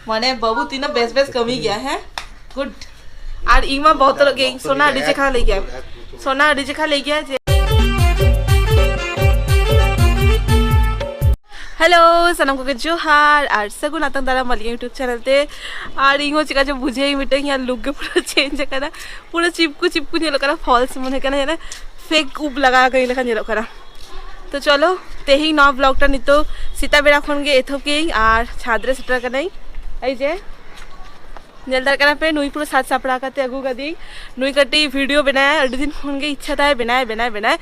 ᱢᱟᱱᱮ ᱵᱟᱹᱵᱩ ᱛᱤᱱᱟᱹᱜ ᱵᱮᱥ ᱵᱮᱥ ᱠᱟᱹᱢᱤ ᱜᱮᱭᱟ ᱦᱮᱸ ᱜᱩᱰ ᱟᱨ ᱤᱧ ᱢᱟ ᱵᱚᱛᱚᱨᱚᱜ ᱜᱮᱭᱟᱹᱧ ᱥᱚᱱᱟ ᱟᱹᱰᱤ ᱪᱮᱠᱷᱟ ᱞᱟᱹᱭ ᱜᱮᱭᱟ ᱥᱚᱱᱟ ᱟᱹᱰᱤ ᱪᱮᱠᱷᱟ ᱞᱟᱹᱭ ᱜᱮᱭᱟ ᱡᱮ ᱦᱮᱞᱳ ᱥᱟᱱᱟᱢ ᱠᱚᱜᱮ ᱡᱚᱦᱟᱨ ᱟᱨ ᱥᱟᱹᱜᱩᱱ ᱟᱛᱟᱝ ᱫᱟᱨᱟᱢ ᱟᱹᱞᱤᱧ ᱤᱭᱩᱴᱩᱵᱽ ᱪᱮᱱᱮᱞ ᱛᱮ ᱟᱨ ᱤᱧ ᱦᱚᱸ ᱪᱮᱠᱟ ᱪᱚ ᱵᱩᱡᱷᱟᱹᱣ ᱢᱤᱫᱴᱟᱝ ᱤᱧᱟᱹᱜ ᱞᱩᱠ ᱜᱮ ᱯᱩᱨᱟᱹ ᱪᱮᱧᱡᱽ ᱟᱠᱟᱱᱟ ᱯᱩᱨᱟᱹ ᱪᱤᱯᱠᱩ ᱪᱤᱯᱠᱩ ᱧᱮᱞᱚᱜ ᱠᱟᱱᱟ ᱯᱷᱚᱞᱥ ᱢᱚᱱᱮ ᱠᱟᱱᱟ ᱯᱷᱮᱠ ᱩᱵ ᱞᱟᱜᱟᱣ ᱠᱟᱹᱧ ᱞᱮᱠᱟ ᱧᱮᱞᱚᱜ ᱠᱟᱱᱟ ᱛᱚ ᱪᱚᱞᱚ ᱛᱮᱦᱮᱧ ᱱᱚᱣᱟ ᱵᱞᱚᱜᱴᱟ ᱱᱤᱛᱚᱜ ᱥᱮᱛᱟᱜ ᱵᱮᱲᱟ ᱠᱷᱚᱱ ᱜᱮ ᱮᱛᱚᱦᱚᱵ ᱠᱮᱜᱼᱟᱹᱧ ᱟᱨ ᱪᱷᱟᱫᱽ ᱨᱮ ᱥᱮᱴᱮᱨ ᱠᱟᱹᱱᱟᱹᱧ ᱮᱭ ᱡᱮ ᱧᱮᱞ ᱫᱟᱲᱮᱭᱟᱜ ᱠᱟᱱᱟ ᱯᱮ ᱱᱩᱭ ᱯᱩᱨᱟᱹ ᱥᱟᱡᱽ ᱥᱟᱯᱲᱟᱣ ᱠᱟᱛᱮ ᱟᱹᱜᱩ ᱠᱟᱹᱫᱤᱧ ᱱᱩᱭ ᱠᱟᱹᱴᱤᱡ ᱵᱷᱤᱰᱤᱭᱳ ᱵᱮᱱᱟᱭᱟ ᱟᱹᱰᱤ ᱫᱤᱱ ᱠᱷᱚᱱ ᱜᱮ ᱤᱪᱪᱷᱟ ᱛᱟᱭ ᱵᱮᱱᱟᱭ ᱵᱮᱱᱟᱭ ᱵᱮᱱᱟᱭ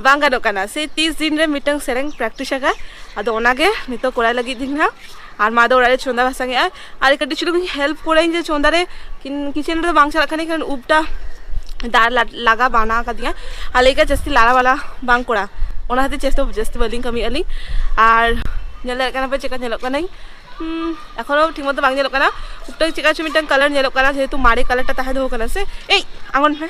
ᱵᱟᱝ ᱜᱟᱱᱚᱜ ᱠᱟᱱᱟ ᱥᱮ ᱛᱤᱥ ᱫᱤᱱ ᱨᱮ ᱢᱤᱫᱴᱟᱝ ᱥᱮᱨᱮᱧ ᱯᱨᱮᱠᱴᱤᱥ ᱟᱠᱟᱫ ᱟᱫᱚ ᱚᱱᱟᱜᱮ ᱱᱤᱛᱚᱜ ᱠᱚᱨᱟᱣ ᱞᱟᱹᱜᱤᱫ ᱫᱤᱧ ᱦᱟᱸᱜ ᱟᱨ ᱢᱟ ᱫᱚ ᱚᱲᱟᱜ ᱨᱮ ᱪᱚᱸᱫᱟ ᱵᱟᱥᱟᱝ ᱮᱜᱼᱟᱭ ᱟᱨ ᱠᱟᱹᱴᱤᱡ ᱪᱩᱞᱩᱝ ᱦᱮᱞᱯ ᱠᱚᱨᱟᱹᱧ ᱡᱮ ᱪᱚᱸᱫᱟ ᱨᱮ ᱠᱤᱪᱮᱱ ᱨᱮᱫᱚ ᱵᱟᱝ ᱪᱟᱞᱟᱜ ᱠᱟᱱᱟ ᱠᱟᱨᱚᱱ ᱩᱵᱴᱟ ᱫᱟᱨ ᱞᱟᱜᱟ ᱵᱟᱱᱟ ᱠᱟᱫᱤᱧᱟ ᱟᱨ ᱞᱟᱹᱭ ᱠᱟᱜ ᱡᱟᱹᱥᱛᱤ ᱞᱟᱲᱟ ᱵᱟᱞᱟ ᱵᱟᱝ ᱠᱚᱲᱟ ᱚᱱᱟ ᱠᱷᱟᱹᱛᱤᱨ ᱪᱮᱥᱴᱟ ᱡᱟᱹᱥᱛᱤ ᱵᱟᱹᱞᱤᱧ ᱠᱟᱹᱢᱤ ᱟᱹᱞᱤᱧ ᱟᱨ ᱧᱮᱞ ᱫᱟᱲᱮᱭᱟᱜ ᱠᱟᱱᱟ ᱯᱮ ᱪᱮᱫᱠᱟ ᱧᱮᱞᱚᱜ ᱠᱟᱹᱱᱟᱹᱧ ᱮᱠᱷᱚᱱᱳ ᱴᱷᱤᱠ ᱢᱚᱛᱚ ᱵᱟᱝ ᱧᱮᱞᱚᱜ ᱠᱟᱱᱟ ᱩᱵᱴᱟ ᱪᱮᱫᱠᱟ ᱪᱚ ᱢᱤᱫᱴᱟᱝ ᱠᱟᱞᱟᱨ ᱧᱮᱞᱚᱜ ᱠᱟᱱᱟ ᱡᱮᱦᱮᱛᱩ ᱢᱟᱨᱮ ᱠᱟᱞᱟᱨᱴᱟ ᱛᱟᱦᱮᱸ ᱫᱚᱦᱚ ᱠᱟᱱᱟ ᱥᱮ ᱮᱭ ᱟᱬᱜᱚᱱ ᱢᱮ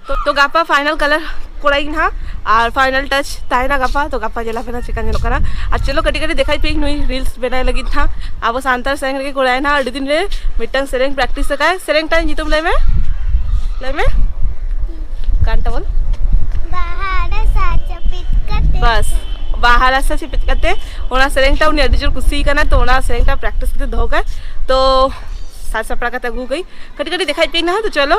ᱛᱚ ᱛᱚ ᱜᱟᱯᱟ ᱯᱷᱟᱭᱱᱟᱞ ᱠᱟᱞᱟᱨ ᱠᱚᱲᱟᱭ ᱤᱧ ᱦᱟᱸᱜ ᱟᱨ ᱯᱷᱟᱭᱱᱟᱞ ᱴᱟᱪ ᱛᱟᱦᱮᱱᱟ ᱜᱟᱯᱟ ᱛᱚ ᱜᱟᱯᱟ ᱧᱮᱞᱟ ᱯᱮᱱᱟ ᱪᱮᱠᱟ ᱧᱮᱞᱚᱜ ᱠᱟᱱᱟ ᱟᱨ ᱪᱚᱞᱚ ᱠᱟᱹᱴᱤᱡ ᱠᱟᱹᱴᱤᱡ ᱫᱮᱠᱷᱟᱭ ᱯᱮ ᱱᱩᱭ ᱨᱤᱞᱥ ᱵᱮᱱᱟᱭ ᱞᱟᱹᱜᱤᱫ ᱦᱟᱸᱜ ᱟᱵᱚ ᱥᱟᱱᱛᱟᱲ ᱥᱮᱨᱮᱧ ᱨᱮᱜᱮ ᱠᱚᱲᱟᱭ ᱱᱟ ᱟᱹᱰᱤ ᱫᱤᱱ ᱨᱮ ᱢᱤᱫᱴᱟᱝ ᱥᱮᱨᱮᱧ ᱯᱨᱮᱠᱴᱤᱥ ᱟᱠᱟᱭ ᱥᱮᱨᱮᱧ ᱴᱟᱜ ᱧᱩᱛᱩᱢ ᱞᱟᱹᱭ ᱢᱮ ᱞᱟᱹᱭ ᱢᱮ ᱜᱟᱱᱴᱟ ᱵᱚᱞ ᱵᱟᱥ ᱵᱟᱦᱟ ᱨᱟᱥᱟ ᱪᱤᱯᱤᱛ ᱠᱟᱛᱮ ᱚᱱᱟ ᱥᱮᱨᱮᱧ ᱴᱟᱜ ᱩᱱᱤ ᱟᱹᱰᱤ ᱡᱳᱨ ᱠᱩᱥᱤ ᱠᱟᱱᱟ ᱛᱚ ᱚᱱᱟ ᱥᱮᱨᱮᱧ ᱴᱟᱜ ᱯᱨᱮᱠᱴᱤᱥ ᱠᱟᱛᱮ ᱫᱚᱦᱚ ᱠᱟᱭ ᱛᱚ ᱥᱟᱡᱽ ᱥᱟᱯᱲᱟᱣ ᱠᱟᱛᱮ ᱟᱹᱜᱩ ᱠᱟᱹᱧ ᱠᱟᱹᱴᱤᱡ ᱠᱟᱹᱴᱤᱡ ᱫᱮᱠᱷᱟᱭ ᱯᱮ ᱱᱟ ᱛᱚ ᱪᱚᱞᱚ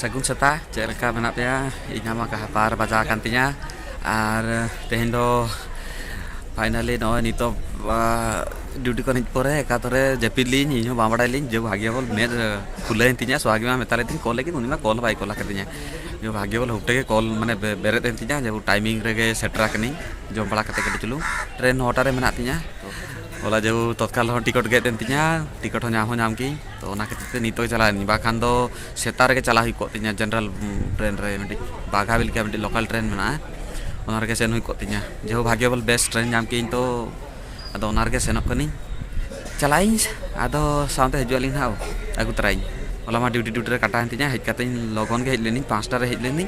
ᱥᱟᱹᱜᱩᱱ ᱥᱮᱛᱟᱜ ᱪᱮᱫ ᱞᱮᱠᱟ ᱢᱮᱱᱟᱜ ᱯᱮᱭᱟ ᱤᱧᱟᱹᱜ ᱢᱟ ᱠᱟᱦᱟᱯᱟᱨ ᱵᱟᱡᱟᱣ ᱟᱠᱟᱱ ᱛᱤᱧᱟᱹ ᱟᱨ ᱛᱮᱦᱮᱧ ᱫᱚ ᱯᱷᱟᱭᱱᱟᱞᱤ ᱱᱚᱜᱼᱚᱭ ᱱᱤᱛᱚᱜ ᱰᱤᱭᱩᱴᱤ ᱠᱷᱚᱱ ᱦᱮᱡ ᱯᱚᱨᱮ ᱚᱠᱟᱛᱚᱨᱮ ᱡᱟᱹᱯᱤᱫ ᱞᱤᱫᱟᱹᱧ ᱤᱧ ᱦᱚᱸ ᱵᱟᱝ ᱵᱟᱲᱟᱭ ᱞᱤᱫᱟᱹᱧ ᱡᱮ ᱵᱷᱟᱜᱽᱭᱚ ᱵᱚᱞ ᱢᱮᱪ ᱠᱷᱩᱞᱟᱹᱣᱮᱱ ᱛᱤᱧᱟᱹ ᱥᱳᱦᱟᱜᱤ ᱢᱟ ᱢᱮᱛᱟᱞᱮ ᱛᱟᱦᱮᱱ ᱠᱚᱞ ᱞᱟᱹᱜᱤᱫ ᱩᱱᱤ ᱢᱟ ᱠᱚᱞ ᱦᱚᱸ ᱵᱟᱭ ᱠᱚᱞ ᱟᱠᱟᱫᱤᱧᱟ ᱡᱮ ᱵᱷᱟᱜᱽᱭᱚ ᱵᱚᱞ ᱦᱩᱴᱮ ᱜᱮ ᱠᱚᱞ ᱢᱟᱱᱮ ᱵᱮᱨᱮᱫ ᱮᱱ ᱛᱤᱧᱟᱹ ᱡᱮ ᱴᱟᱭᱢᱤᱝ ᱨᱮᱜᱮ ᱥᱮᱴᱮᱨ ᱟᱠᱟᱱᱟᱹᱧ ᱡᱚᱢ ᱵᱟᱲᱟ ᱠᱟᱛᱮᱫ ᱠᱟᱹᱴᱤᱡ ᱪᱩᱞᱩᱝ ᱴᱨᱮᱱ ᱱᱚᱴᱟ ᱨᱮ ᱢᱮᱱᱟᱜ ᱛᱤᱧᱟᱹ ᱦᱚᱞᱟ ᱡᱮᱦᱮᱛᱩ ᱛᱚᱛᱠᱟᱞ ᱨᱮᱦᱚᱸ ᱴᱤᱠᱤᱴ ᱜᱮᱫ ᱮᱱ ᱛᱤᱧᱟᱹ ᱴᱤᱠᱤᱴ ᱦᱚᱸ ᱧᱟᱢ ᱦᱚᱸ ᱧᱟᱢ ᱠᱮᱫᱟᱹᱧ ᱛᱚ ᱚᱱᱟ ᱠᱷᱟᱹᱛᱤᱨ ᱛᱮ ᱱᱤᱛᱚᱜ ᱪᱟᱞᱟᱜ ᱟᱹᱧ ᱵᱟᱠᱷᱟᱱ ᱫᱚ ᱥᱮᱛᱟᱜ ᱨᱮᱜᱮ ᱪᱟᱞᱟᱜ ᱦᱩᱭ ᱠᱚᱜ ᱛᱤᱧᱟᱹ ᱡᱮᱱᱟᱨᱮᱞ ᱴᱨᱮᱱ ᱨᱮ ᱢᱤᱫᱴᱤᱡ ᱵᱟᱜᱷᱟ ᱵᱤᱞ ᱠᱷᱚᱱ ᱢᱤᱫᱴᱤᱡ ᱞᱳᱠᱟᱞ ᱴᱨᱮᱱ ᱢᱮᱱᱟᱜᱼᱟ ᱚᱱᱟ ᱨᱮᱜᱮ ᱥᱮᱱ ᱦᱩᱭ ᱠᱚᱜ ᱛᱤᱧᱟᱹ ᱡᱮᱦᱳ ᱵᱷᱟᱜᱽᱭᱚ ᱵᱚᱞ ᱵᱮᱥ ᱴᱨᱮᱱ ᱧᱟᱢ ᱠᱮᱜ ᱟᱹᱧ ᱛᱚ ᱟᱫᱚ ᱚᱱᱟ ᱨᱮᱜᱮ ᱥᱮᱱᱚᱜ ᱠᱟᱹᱱᱟᱹᱧ ᱪᱟᱞᱟᱜ ᱟᱹᱧ ᱟᱫᱚ ᱥᱟᱶᱛᱮ ᱦᱤᱡᱩᱜ ᱟᱹᱞᱤᱧ ᱦᱟᱸᱜ ᱟᱹᱜᱩ ᱛᱚᱨᱟᱭᱤᱧ ᱦᱚᱞᱟ ᱢᱟ ᱰᱤᱭᱩᱴᱤ ᱰᱤᱭᱩᱴᱤ ᱨᱮ ᱠᱟᱴᱟᱣᱮᱱ ᱛᱤᱧᱟᱹ ᱦᱮᱡ ᱠᱟᱛᱮ ᱞᱚᱜᱚᱱ ᱜᱮ ᱦᱮᱡ ᱞᱮᱱᱟᱹᱧ ᱯᱟᱸᱪᱴᱟ ᱨᱮ ᱦᱮᱡ ᱞᱮᱱᱟᱹᱧ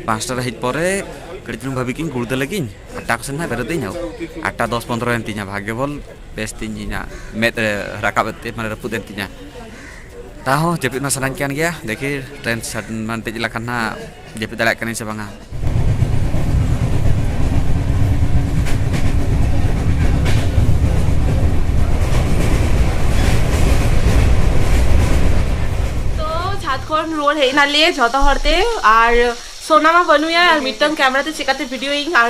ᱯᱟᱸᱪᱴᱟ ᱨᱮ ᱦᱮᱡ ᱯᱚᱨᱮ ᱠᱟᱹᱴᱤᱡ ᱪᱩᱞᱩᱝ ᱵᱷᱟᱹᱵᱤ ᱠᱮᱜ ᱟᱹᱧ ᱜᱩᱲᱫᱟᱹ ᱞᱟᱹᱜᱤᱫ ᱟᱴᱴᱟ ᱠᱚᱥᱮᱱ ᱦᱟᱸᱜ ᱵᱮᱨᱮᱫ ᱟᱹᱧ ᱟᱴᱴᱟ ᱫᱚᱥ ᱯᱚᱱᱨᱚᱭᱮᱱ ᱛᱤᱧᱟᱹ ᱵᱷᱟᱜᱽᱭᱚ ᱵᱚᱞ ᱵᱮᱥ ᱛᱤᱧ ᱤᱧᱟᱹᱜ ᱢᱮᱫ ᱨᱮ ᱨᱟᱠᱟᱵ ᱮᱱ ᱛᱤᱧ ᱢᱟᱱᱮ ᱨᱟᱹᱯᱩᱫ ᱮᱱ ᱛᱤᱧᱟ ᱛᱟᱦᱚᱸ ᱡᱟᱹᱯᱤᱫ ᱢᱟ ᱥᱟᱱᱟᱧ ᱠᱟᱱ ᱜᱮᱭᱟ ᱫᱮᱠᱷᱤ ᱴᱨᱮᱱ ᱢᱟᱱ ᱫᱮᱡ ᱞᱮᱠᱷᱟᱱ ᱦᱟᱸᱜ ᱡᱟᱹᱯᱤᱫ ᱫᱟᱲᱮᱭᱟᱜ ᱠᱟᱹᱱᱟᱹᱧ ᱥᱮ ᱵᱟᱝᱟ ᱠᱷᱚᱱ ᱨᱩᱣᱟᱹᱲ ᱦᱮᱡ ᱮᱱᱟᱞᱮ ᱡᱷᱚᱛᱚ ᱦᱚᱲᱛᱮ ᱟᱨ ᱥᱳᱱᱟ ᱢᱟ ᱵᱟᱹᱱᱩᱭᱟ ᱟᱨ ᱢᱤᱫᱴᱟᱝ ᱠᱮᱢᱮᱨᱟ ᱛᱮ ᱪᱮᱠᱟᱛᱮ ᱵᱷᱤᱰᱤᱭᱳᱭᱤᱧ ᱟᱨ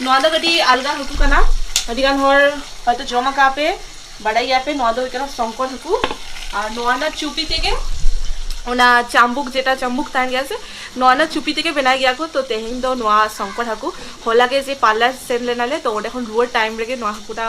ᱱᱚᱣᱟ ᱫᱚ ᱠᱟᱹᱴᱤᱡ ᱟᱞᱜᱟ ᱦᱟᱹᱠᱩ ᱠᱟᱱᱟ ᱟᱹᱰᱤ ᱜᱟᱱ ᱦᱚᱲ ᱦᱚᱭᱛᱚ ᱡᱚᱢ ᱟᱠᱟᱫ ᱯᱮ ᱵᱟᱰᱟᱭ ᱜᱮᱭᱟ ᱯᱮ ᱱᱚᱣᱟ ᱫᱚ ᱦᱩᱭᱩᱜ ᱠᱟᱱᱟ ᱥᱚᱝᱠᱚᱨ ᱦᱟᱹᱠᱩ ᱟᱨ ᱱᱚᱣᱟ ᱨᱮᱱᱟᱜ ᱪᱩᱯᱤ ᱛᱮᱜᱮ ᱚᱱᱟ ᱪᱟᱢᱵᱩᱠ ᱡᱮᱴᱟ ᱪᱟᱢᱵᱩᱠ ᱛᱟᱦᱮᱱ ᱜᱮᱭᱟ ᱥᱮ ᱱᱚᱣᱟ ᱨᱮᱱᱟᱜ ᱪᱩᱯᱤ ᱛᱮᱜᱮ ᱵᱮᱱᱟᱣ ᱜᱮᱭᱟ ᱠᱚ ᱛᱚ ᱛᱮᱦᱮᱧ ᱫᱚ ᱱᱚᱣᱟ ᱥᱚᱝᱠᱚᱨ ᱦᱟᱹᱠᱩ ᱦᱚᱞᱟ ᱜᱮ ᱡᱮ ᱯᱟᱨᱞᱟᱨ ᱥᱮᱱ ᱞᱮᱱᱟᱞᱮ ᱛᱚ ᱚᱸᱰᱮ ᱠᱷᱚᱱ ᱨᱩᱣᱟᱹᱲ ᱴᱟᱭᱤᱢ ᱨᱮᱜᱮ ᱱᱚᱣᱟ ᱦᱟᱹᱠᱩᱴᱟ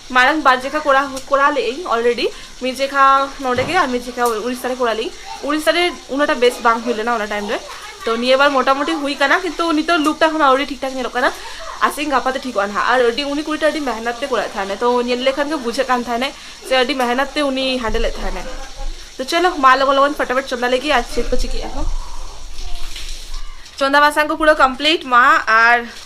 ᱢᱟᱲᱟᱝ ᱵᱟᱨ ᱡᱮᱠᱷᱟ ᱠᱚᱨᱟᱣ ᱠᱚᱨᱟᱣ ᱞᱮᱫᱟᱹᱧ ᱚᱞᱨᱮᱰᱤ ᱢᱤᱫ ᱡᱮᱠᱷᱟ ᱱᱚᱰᱮ ᱜᱮ ᱟᱨ ᱢᱤᱫ ᱡᱮᱠᱷᱟ ᱩᱲᱤᱥᱥᱟ ᱨᱮ ᱠᱚᱨᱟᱣ ᱞᱮᱫᱟᱹᱧ ᱩᱲᱤᱥᱥᱟ ᱨᱮ ᱩᱱᱟᱹᱜᱴᱟ ᱵᱮᱥ ᱵᱟᱝ ᱦᱩᱭ ᱞᱮᱱᱟ ᱚᱱᱟ ᱴᱟᱭᱤᱢ ᱨᱮ ᱛᱚ ᱱᱤᱭᱟᱹ ᱵᱟᱨ ᱢᱚᱴᱟᱢᱩᱴᱤ ᱦᱩᱭ ᱠᱟᱱᱟ ᱠᱤᱱᱛᱩ ᱱᱤᱛᱚᱜ ᱞᱩᱠᱴᱟ ᱦᱚᱸ ᱟᱹᱣᱨᱤ ᱴᱷᱤᱠ ᱴᱷᱟᱠ ᱧᱮᱞᱚᱜ ᱠᱟᱱᱟ ᱟᱥᱟᱭᱟᱹᱧ ᱜᱟᱯᱟ ᱛᱮ ᱴᱷᱤᱠᱚᱜᱼᱟ ᱱᱟᱦᱟᱜ ᱟᱨ ᱟᱹᱰᱤ ᱩᱱᱤ ᱠᱩᱲᱤᱴᱟ ᱟᱹᱰᱤ ᱢᱮᱦᱱᱚᱛ ᱛᱮ ᱠᱚᱨᱟᱣᱮᱫ ᱛᱟᱦᱮᱱᱟᱭ ᱛᱚ ᱧᱮᱞ ᱞᱮᱠᱷᱟᱱ ᱜᱮ ᱵᱩᱡᱷᱟᱹᱜ ᱠᱟᱱ ᱛᱟᱦᱮᱱᱟᱭ ᱥᱮ ᱟᱹᱰᱤ ᱢᱮᱦᱱᱚᱛ ᱛᱮ ᱩᱱᱤ ᱦᱮᱱᱰᱮᱞᱮᱫ ᱛᱟᱦᱮᱱᱟᱭ ᱛᱚ ᱪᱚᱞᱚ ᱢᱟ ᱞᱚᱜᱚᱱ ᱞᱚᱜᱚᱱ ᱯᱷᱚᱴᱟᱯᱷᱚᱴ ᱪᱚᱸᱫᱟ ᱞᱮᱜᱮ ᱟᱨ ᱪᱮᱫ ᱠᱚ ᱪᱤᱠᱟᱹᱜᱼᱟ ᱦᱚᱸ ᱪᱚᱸᱫᱟ ᱵᱟᱥᱟᱝ ᱠᱚ ᱯᱩᱨᱟᱹ ᱠᱚᱢᱯᱞᱤᱴ ᱢᱟ ᱟᱨ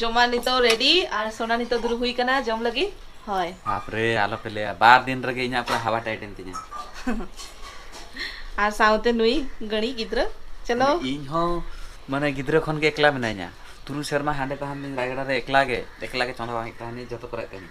ᱡᱚᱢᱟ ᱱᱤᱛᱚᱜ ᱨᱮᱰᱤ ᱟᱨ ᱥᱚᱱᱟ ᱱᱤᱛᱚᱜ ᱫᱩᱲᱩᱵ ᱦᱩᱭ ᱠᱟᱱᱟ ᱡᱚᱢ ᱞᱟᱹᱜᱤᱫ ᱦᱳᱭ ᱵᱟᱯ ᱨᱮ ᱟᱞᱚ ᱯᱮ ᱞᱟᱹᱭᱟ ᱵᱟᱨ ᱫᱤᱱ ᱨᱮᱜᱮ ᱤᱧᱟᱹᱜ ᱯᱩᱨᱟᱹ ᱦᱟᱣᱟ ᱴᱟᱭᱤᱴ ᱮᱱ ᱛᱤᱧᱟ ᱟᱨ ᱥᱟᱶᱛᱮ ᱱᱩᱭ ᱜᱟᱹᱬᱤ ᱜᱤᱫᱽᱨᱟᱹ ᱪᱚᱞᱚ ᱤᱧ ᱦᱚᱸ ᱢᱟᱱᱮ ᱜᱤᱫᱽᱨᱟᱹ ᱠᱷᱚᱱ ᱜᱮ ᱮᱠᱞᱟ ᱢᱮᱱᱟᱧᱟ ᱛᱩᱨᱩᱭ ᱥᱮᱨᱢᱟ ᱦᱟᱸᱰᱮ ᱛᱟᱦᱮᱱ ᱫᱤᱧ ᱨᱟᱭᱜᱟᱲᱟ ᱨᱮ ᱮᱠᱞᱟ ᱜᱮ ᱮᱠᱞᱟ ᱜᱮ ᱪᱚᱸᱫᱟ ᱵᱟᱝ ᱦᱩᱭᱩᱜ ᱛᱟᱦᱮᱱ ᱡᱚᱛᱚ ᱠᱚᱨᱮ ᱠᱟᱹᱢᱤ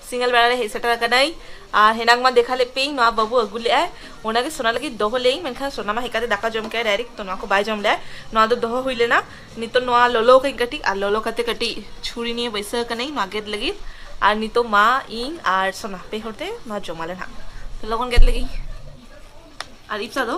ᱥᱤᱸᱜᱟᱞ ᱵᱮᱲᱟ ᱨᱮ ᱦᱮᱡ ᱥᱮᱴᱮᱨ ᱟᱠᱟᱱᱟᱹᱧ ᱟᱨ ᱦᱮᱱᱟᱝ ᱢᱟ ᱫᱮᱠᱷᱟ ᱞᱮᱫ ᱯᱮᱭᱟᱹᱧ ᱱᱚᱣᱟ ᱵᱟᱹᱵᱩ ᱟᱹᱜᱩ ᱞᱮᱫ ᱟᱭ ᱚᱱᱟ ᱜᱮ ᱥᱚᱱᱟ ᱞᱟᱹᱜᱤᱫ ᱫᱚᱦᱚ ᱞᱮᱫᱟᱹᱧ ᱢᱮᱱᱠᱷᱟᱱ ᱥᱚᱱᱟ ᱢᱟ ᱦᱮᱡ ᱠᱟᱛᱮ ᱫᱟᱠᱟ ᱡᱚᱢ ᱠᱮᱫᱟᱭ ᱰᱟᱭᱨᱮᱠᱴ ᱛᱚ ᱱᱚᱣᱟ ᱠᱚ ᱵᱟᱭ ᱡᱚᱢ ᱞᱮᱫᱟᱭ ᱱᱚᱣᱟ ᱫᱚ ᱫᱚᱦᱚ ᱦᱩᱭ ᱞᱮᱱᱟ ᱱᱤᱛᱚᱜ ᱱᱚᱣᱟ ᱞᱚᱞᱚ ᱠᱟᱹᱧ ᱠᱟᱹᱴᱤᱡ ᱟᱨ ᱞᱚᱞᱚ ᱠᱟᱛᱮ ᱠᱟᱹᱴᱤᱡ ᱪᱷᱩᱨᱤ ᱱᱤᱭᱮ ᱵᱟᱹᱭᱥᱟᱹᱣ ᱟᱠᱟᱱᱟᱹᱧ ᱱᱚᱣᱟ ᱜᱮᱫ ᱞᱟᱹᱜᱤᱫ ᱟᱨ ᱱᱤᱛᱚᱜ ᱢᱟ ᱤᱧ ᱟᱨ ᱥᱚᱱᱟ ᱯᱮ ᱦᱚᱲ ᱛᱮ ᱱᱚᱣᱟ ᱡᱚᱢᱟᱞᱮ ᱱᱟᱜ ᱛᱚ ᱞᱚᱜᱚᱱ ᱜᱮᱫ ᱞᱟᱹᱜᱤᱫ ᱟᱨ ᱤᱯᱥᱟ ᱫᱚ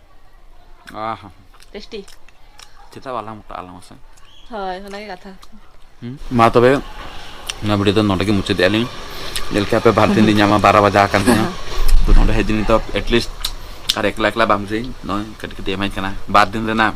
ᱚ ᱦᱚᱸ ᱴᱮᱥᱴᱤ ᱪᱮᱫᱟᱜ ᱵᱟᱞᱟᱝ ᱢᱚᱴᱟᱜ ᱟᱞᱟᱝ ᱢᱟᱥᱮ ᱦᱳᱭ ᱚᱱᱟᱜᱮ ᱠᱟᱛᱷᱟ ᱢᱟ ᱛᱚᱵᱮ ᱚᱱᱟ ᱵᱷᱤᱰᱤᱭᱳ ᱫᱚ ᱱᱚᱰᱮ ᱜᱮ ᱢᱩᱪᱟᱹᱫᱮᱜᱼᱟ ᱞᱤᱧ ᱧᱮᱞ ᱠᱮᱜᱼᱟ ᱯᱮ ᱵᱟᱨ ᱫᱤᱱ ᱞᱤᱧ ᱧᱟᱢᱟ ᱵᱟᱨᱚ ᱵᱟᱡᱟ ᱟᱠᱟᱱ ᱛᱤᱧᱟ ᱛᱚ ᱱᱚᱰᱮ ᱦᱮᱡ ᱫᱤᱱ ᱫᱚ ᱮᱴᱞᱤᱥᱴ ᱟᱨ ᱮᱠᱞᱟ ᱮᱠᱞᱟ ᱵᱟᱝ ᱵᱩᱡᱷᱟᱹᱣᱤᱧ ᱱᱚᱜᱼᱚᱭ ᱠᱟᱹᱴᱤᱡ ᱠᱟᱹᱴᱤᱡ ᱮᱢᱟᱹᱧ ᱠᱟᱱᱟ ᱵᱟᱨ ᱫᱤᱱ ᱨᱮᱱᱟᱜ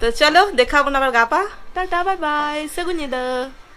ᱛᱚ ᱪᱚᱞᱚ ᱫᱮᱠᱷᱟᱣ ᱵᱚᱱ ᱟᱵᱟᱨ ᱜᱟᱯᱟ ᱴᱟᱴᱟ ᱵᱟᱭ ᱵᱟᱭ ᱥᱟᱹᱜᱩᱱ ᱧᱤᱫᱟᱹ